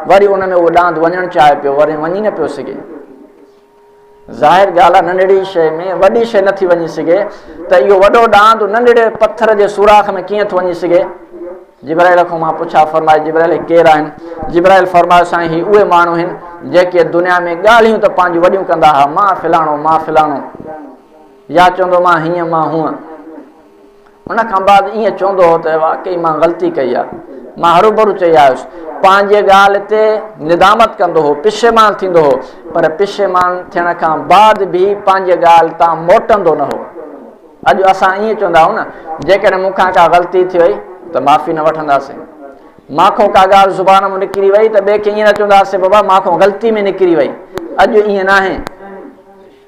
وري ان ۾ اهو ڏاند وڃڻ چاهي پيو وري وڃي نه پيو سگهي ظاهر ڳالهه آهي ننڍڙي شي ۾ وڏي شي نٿي وڃي سگهي ته اهو وڏو ڏاند ننڍڙي پٿر جي سوراخ ۾ ڪيئن ٿو وڃي سگهي جبرائيل کان مان پڇا فرمائي جبرائيل ڪير آهن جبرائيل فرمايو سائين هي اهي ماڻهو آهن جيڪي دنيا ۾ ڳالهيون ته پنهنجون وڏيون ڪندا هئا مان فلاڻو مان فلاڻو يا چوندو مان هيئن مان هونء ان کان بعد ائين چوندو هو ته واقعي مان غلطي ڪئي آهي، مان هروڀرو چئي آيس. پنهنجي ڳالهه تي ندامت ڪندو هو، پشيمان ٿيندو هو، پر پشيمان ٿيڻ کان بعد به پنهنجي ڳالهه تان موٽندو نه هو. اڄ اسان ائين چوندا آهيون نه، جيڪڏهن مون کان ڪا غلطي ٿي وئي ته معافي نه وٺنداسين. مان کون ڪا ڳالهه زبان مان نڪري وئي ته ٻئي کي ائين نه چونداسين بابا مان کون غلطي ۾ نڪري وئي. اڄ ائين ناهي.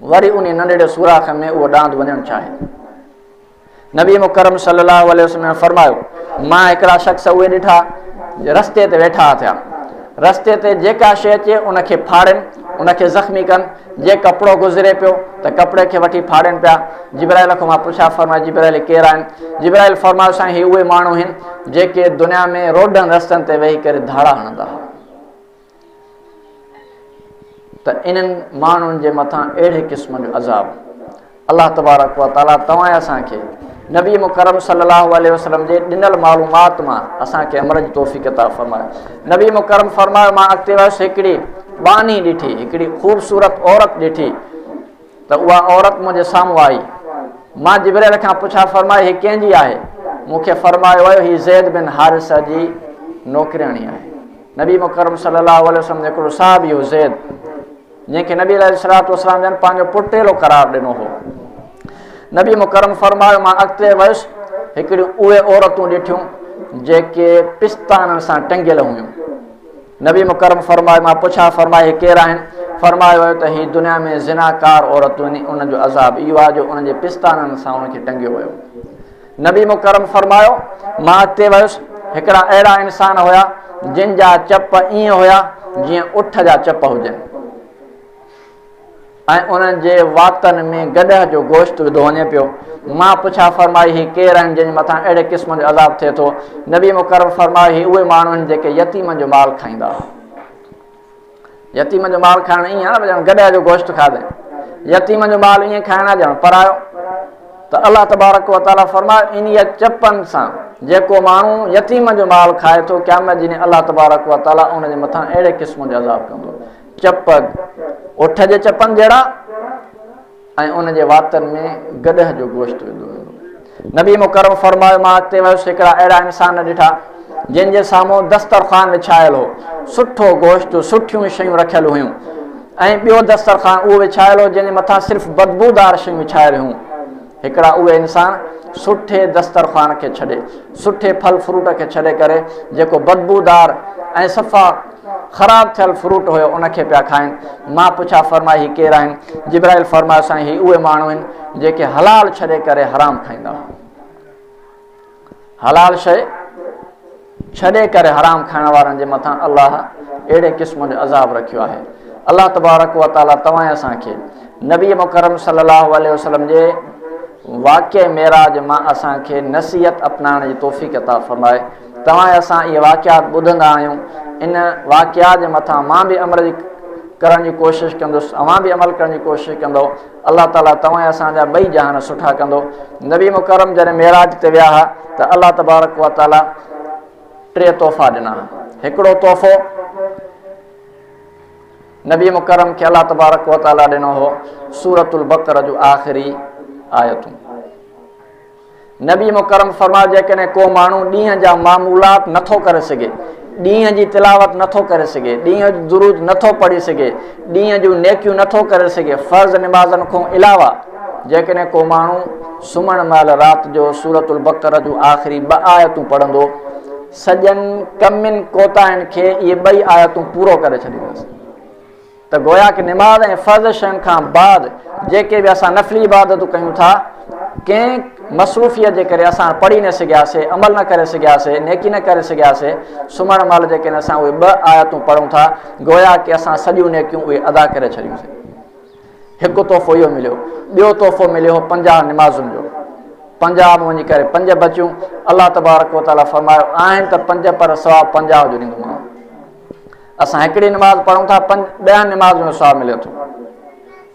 وري انهي ننڍڙي سوراخ ۾ اهو ڏاند وڃڻ چاهي ٿو نبي مڪرم صلي الله عليه وسلم فرمايو مان هڪڙا شخص اهي ڏٺا رستي تي ويٺا ٿيا رستي تي جيڪا شي اچي ان کي ڦاڙين ان کي زخمي ڪن جي ڪپڙو گذري پيو ته ڪپڙي کي وٺي ڦاڙين پيا جبرائيل کان مان پڇا فرماء جبرائيل ڪير آهن جبرائيل فرمايو سائين هي اهي ماڻهو آهن جيڪي دنيا ۾ روڊن رستن تي ويهي ڪري ڌاڙا هڻندا هئا ته انهن ماڻهن جي مٿان اهڙي قسم جو عذاب الله تبارڪ و تعاليٰ توهان اسان کي نبي مڪرم صلي الله عليه وسلم جي ڏنل معلومات مان اسان کي عمل جي توفيق عطا فرمايو نبي مڪرم فرمايو مان اڳتي ويس هڪڙي ٻانهي ڏٺي هڪڙي خوبصورت عورت ڏٺي ته اها عورت منهنجي سامهون آئي مان جبريل کان پڇا فرمائي هي ڪنهن جي آهي مونکي فرمايو ويو هي زيد بن حارثه جي نوڪرياڻي آهي نبي مڪرم صلي الله عليه وسلم جو هڪڙو صحابي هو زيد جنهن کي نبي عليه الصلوۃ والسلام جن پنهنجو پٽيلو قرار ڏنو هو نبي مڪرم فرمايو مان اڳتي ويس هڪڙيون اهي عورتون ڏٺيون جيڪي پستانن سان ٽنگيل هيون نبي مڪرم فرمايو مان پڇا فرمائي ڪير آهن فرمايو ويو ته هي دنيا ۾ زناڪار عورتون ان جو عذاب اهو آهي جو ان جي پستانن سان ان کي ٽنگيو ويو نبي مڪرم فرمايو، مان اڳتي ويس، هڪڙا اهڙا انسان هيا جن جا چپ ائين هيا جيئن اٺ جا چپ هجن ۽ انهن جي واتن ۾ گڏهه جو گوشت وڌو وڃي پيو مان پڇا فرمائي هي ڪير آهن جن مٿان اهڙي قسم جو عذاب ٿئي ٿو نبي مڪرم فرمايو هي اهي ماڻهو آهن جيڪي يتيمن جو مال کائيندا هئا يتيم جو مال کائڻ ائين آهي ڄڻ گڏهه جو گوشت کاڌي يتيم جو مال ائين کائڻ آهي ڄڻ پرايو ته الله تبارڪ و تعالی فرمايو انهي چپن سان جيڪو ماڻهو يتيم جو مال کائي ٿو قيامت جي ڏينهن الله تبارڪ و تعالی ان جي مٿان اهڙي قسم جو عذاب ڪندو چپ اٺ جي چپن جهڙا ۽ ان جي واتن ۾ گڏهه جو گوشت وڌو ويندو هو نبي مڪرم فرمايو مان اڳتي ويس هڪڙا اهڙا انسان نه ڏٺا جن جي سامهون دسترخوان وڇايل هو سٺو گوشت سٺيون شيون رکيل هيون ۽ ٻيو دسترخوان اهو وڇايل هو جنهن جي مٿان صرف بدبودار شيون وڇايل هيون هڪڙا اهي انسان سٺي دسترخوان کي ڇڏي سٺي ڦل فروٽ کي ڇڏي ڪري جيڪو بدبودار ۽ صفا خراب ٿيل فروٽ هيو ان کي پيا کائن مان پڇا فرماء هي ڪير آهن جبرائيل فرمايو سائين هي اهي ماڻهو آهن جيڪي حلال ڇڏي ڪري حرام کائيندا هئا حلال شي ڇڏي ڪري حرام کائڻ وارن جي مٿان الله اهڙي قسم جو عذاب رکيو آهي الله تبارڪ و تعالی توهان اسان کي نبي مڪرم صلي الله عليه وسلم جي واقع معراج مان اسان کي نصيحت اپنائڻ جي توفيق عطا فرمائي توهان ۽ اسان اهي واقعات ٻڌندا آهيون، ان واقعات جي مٿان مان به عمل جي ڪرڻ جي ڪوشش ڪندس، اوهان به عمل ڪرڻ جي ڪوشش ڪندؤ، الله تعاليٰ توهان ۽ اسان جا ٻئي جهان سٺا ڪندو. نبي مڪرم جڏهن معراج تي ويا ها ته الله تبارڪ و تعاليٰ ٽي تحفا ڏنا ها، هڪڙو تحفو نبي مڪرم کي الله تبارڪ و تعاليٰ ڏنو هو سورة البقرة جون آخري آيتون. نبي مڪرم فرمايو جيڪڏهن ڪو ماڻهو ڏينهن جا معمولات نٿو ڪري سگهي ڏينهن جي تلاوت نٿو ڪري سگهي ڏينهن جو درود نٿو پڙهي سگهي ڏينهن جون نيڪيون نٿو ڪري سگهي فرض نمازن کان علاوه جيڪڏهن ڪو ماڻهو سمهڻ مهل رات جو سورت البقر جون آخري ٻه آيتون پڙهندو سڄن ڪمين کوتاهن کي اهي ٻئي آيتون پورو ڪري ڇڏيندس ته گويا ڪه نماز ۽ فرض شين کان بعد جيڪي به اسان نفلي عبادتون ڪيون ٿا ڪنهن مصروفيت جي ڪري اسان پڙهي نه سگهياسي عمل نه ڪري سگهياسي نيڪي نه ڪري سگهياسي سمهڻ مهل جيڪي اسان اهي ٻه آيتون پڙهون ٿا گويا ڪه اسان سڄيون نيڪيون اهي ادا ڪري ڇڏيوسي هڪ تحفو اهو مليو ٻيو تحفو مليو پنجاهه نمازن جو پنجاهه ۾ وڃي ڪري پنج بچيون الله تبارڪ وتعاليٰ فرمايو آهن ته پنج پر سوا پنجاهه جو ڏيندومانو اسان هڪڙي نماز پڙهون ٿا ڏهن نمازن جو ثواب ملي ٿو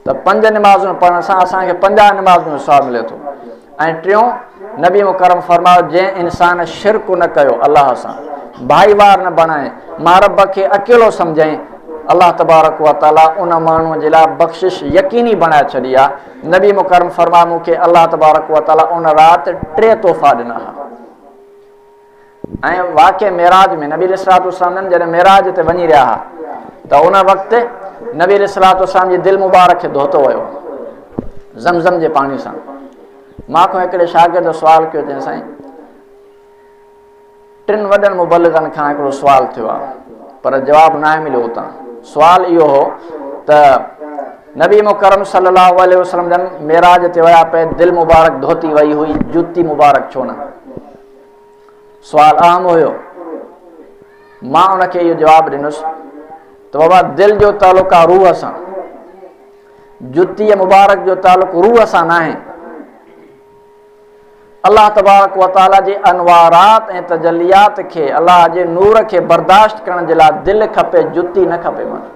ته پنج نمازون پڙهڻ سان اسان کي پنجاهه نمازن جو ثواب ملي ٿو ۽ ٽيون نبي مڪرم فرمايو جنهن انسان شرڪ نه ڪيو الله سان ڀائي وار نه بڻائي مان رب کي اڪيلو سمجھائين الله تبارڪ و تعاليٰ ان ماڻهو جي لاء بخشش يقيني بڻائي ڇڏي آ نبي مڪرم فرمايو مون کي الله تبارڪ و تعاليٰ ان رات ٽي تحفا ڏنا ها ۽ واقع معراج ۾ نبي عليه الصلوة والسلام جن جڏهن معراج تي وڃي رهيا ها ته ان وقت نبي عليه الصلوة والسلام جي دل مبارڪ کي ڌوتو ويو زمزم جي پاڻي سان مان کان هڪڙي شاگرد سوال ڪيو چيائين سائين ٽن وڏن مبلغن کان هڪڙو سوال ٿيو آهي پر جواب ناهي مليو اتان سوال اهو هو ته نبي مڪرم صلي الله عليه وسلم جن معراج تي ويا پئي دل مبارڪ ڌوتي وئي هئي جوتي مبارڪ ڇو نه سوال اهم هيو مان ان کي اهو جواب ڏنس ته بابا دل جو تعلق آ روح سان جتي مبارڪ جو تعلق روح سان نه آهي الله تبارڪ وتعالى جي انوارات ۽ تجليات کي الله جي نور کي برداشت ڪرڻ جي لاء دل کپي جتي نه کپي ماڻهو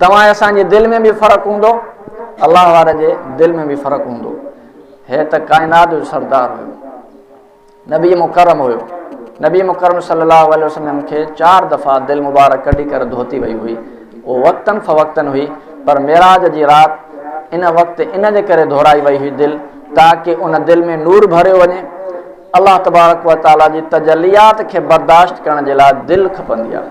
توهان ۽ اسان جي دل ۾ به فرق هوندو، الله وارن جي دل ۾ به فرق هوندو. هي ته ڪائنات جو سردار هيو. نبي مڪرم هيو. نبي مڪرم صلي الله عليه وسلم کي چار دفعا دل مبارڪ ڪڍي ڪر ڌوتي وئي هئي. اهو وقتن فوقتن هئي پر معراج جي رات ان وقت ان جي ڪري ڌورائي وئي هئي دل تاڪه ان دل ۾ نور ڀريو وڃي. الله تبارڪ وتعالي جي تجليات کي برداشت ڪرڻ جي لاء دل کپندي آهي.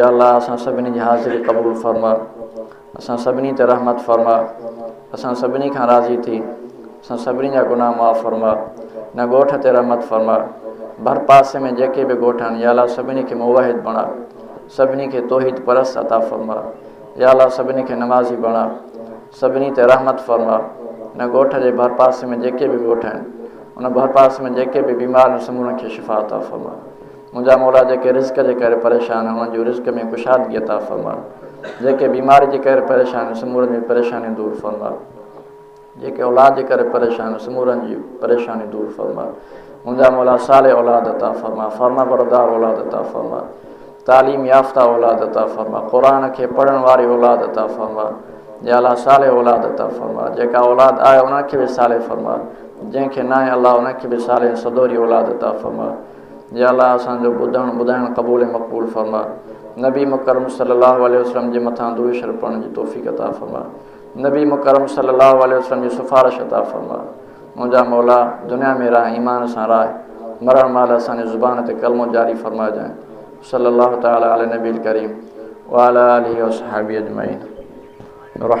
يا الله اسان سڀني جي حاضري قبول فرما اسان سڀني تي رحمت فرما اسان سڀني کان راضي ٿي اسان سڀني جا گناهه معاف فرما نه ڳوٺ تي رحمت فرما ڀر پاسي ۾ جيڪي به ڳوٺ آهن يا الله سڀني کي موحد بڻا سڀني کي توحيد پرس عطا فرما يا الله سڀني کي نمازي بڻا سڀني تي رحمت فرما ان ڳوٺ جي ڀر پاسي ۾ جيڪي به ڳوٺ آهن ان ڀر پاسي ۾ جيڪي به بيمار آهن سمورن کي شفا عطا فرما منهنجا مولا جيڪي رزق جي ڪري پريشان انهن جون رزق ۾ ڪشادگي عطا فرماء جيڪي بيماري جي ڪري پريشان ان سمورن جون پريشانيون دور فرماء جيڪي اولاد جي ڪري پريشان ان سمورن جي پريشانيون دور فرماء منهنجا مولا صالح اولاد عطا فرماء فرما بردار اولاد عطا فرماء تعليم يافته اولاد عطا فرماء قرآن کي پڙهڻ واري اولاد عطا فرماء يا الله صالح اولاد عطا فرماء جيڪا اولاد آهي انهن کي به صالح فرماء جنهن کي ناهي الله انهن کي به صالح ۽ سدوري اولاد عطا فرماء يا الله اسان جو ٻڌڻ ٻڌائڻ قبول ۽ مقبول فرماء نبي مڪرم صلي الله عليه وسلم جي مٿان درود شريف پڙهڻ جي توفيق عطا فرماء نبي مڪرم صلي الله عليه وسلم جي سفارش عطا فرماء منهنجا مولا دنيا ۾ راهه ايمان سان راهه مرڻ مهل اسان جي زبان تي ڪلمو جاري فرمائجانء صلي الله تعالٰي علي نبي الڪريم وعلي آله وصحبه اجمعين رحم